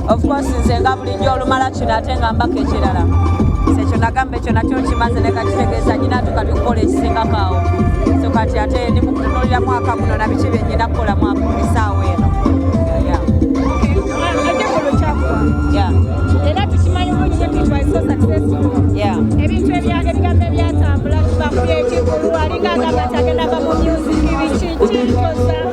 of course nze nga bulijjo olumala kino ate nga mbaka ekirala ekyo nagamba ekyo nakyo nkimaze nekakitegeeza nyina nti kati okukola ekisingako awo so kati ate ndi mukutunulira mwaka guno nabiki byenyina kukola mwaka esaawa eno ebintu ebigambo ebyatambula kibakubyekikulu alinga agamba ti agenda va mu music bikiki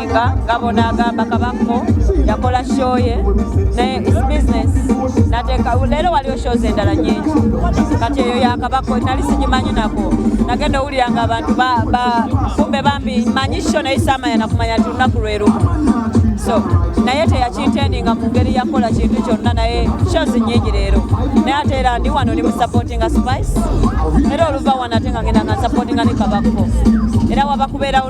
Mayiga gabona agamba kabako yakola show ye naye is business nateeka leero waliwo shows endala nyingi kati eyo yakabako nali sigimanyi nako nagenda owulira nga abantu kumbe bambi manyi sho naye samanya nakumanya ti lunaku lwerumu so naye teyakintendinga mu ngeri yakola kintu kyonna naye shows nyingi leero naye ate era ndi wano ndi musupportinga spice era oluva wano ate nga ngenda nga nsupportinga ne kabako era wabakubeerawo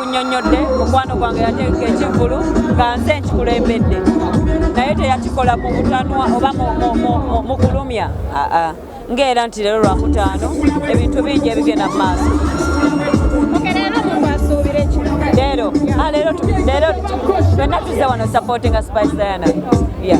nnyonnyodde mukwano gwange yateeka ekivulu nga nze nkikulembedde naye teyakikola mu butanwa oba mu kulumya ng'era nti leero lwakutaano ebintu bingi ebigenda mu maaso leero ah, leero fenna tuzze wano supportinga spice diana yeah.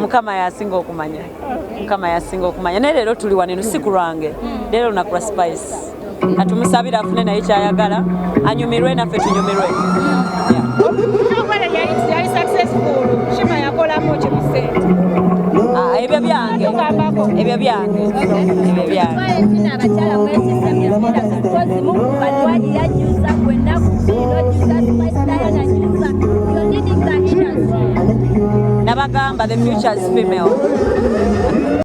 mukama yasinga okumanya mukama yasinga okumanya naye leero tuli waneno si kulwange leero lunaku lwa spice atumusabira afune naye kyayagala anyumirwe naffe tunyumirwe ah, ebyo byange ebyo byange ebyo byange nabagamba the futures female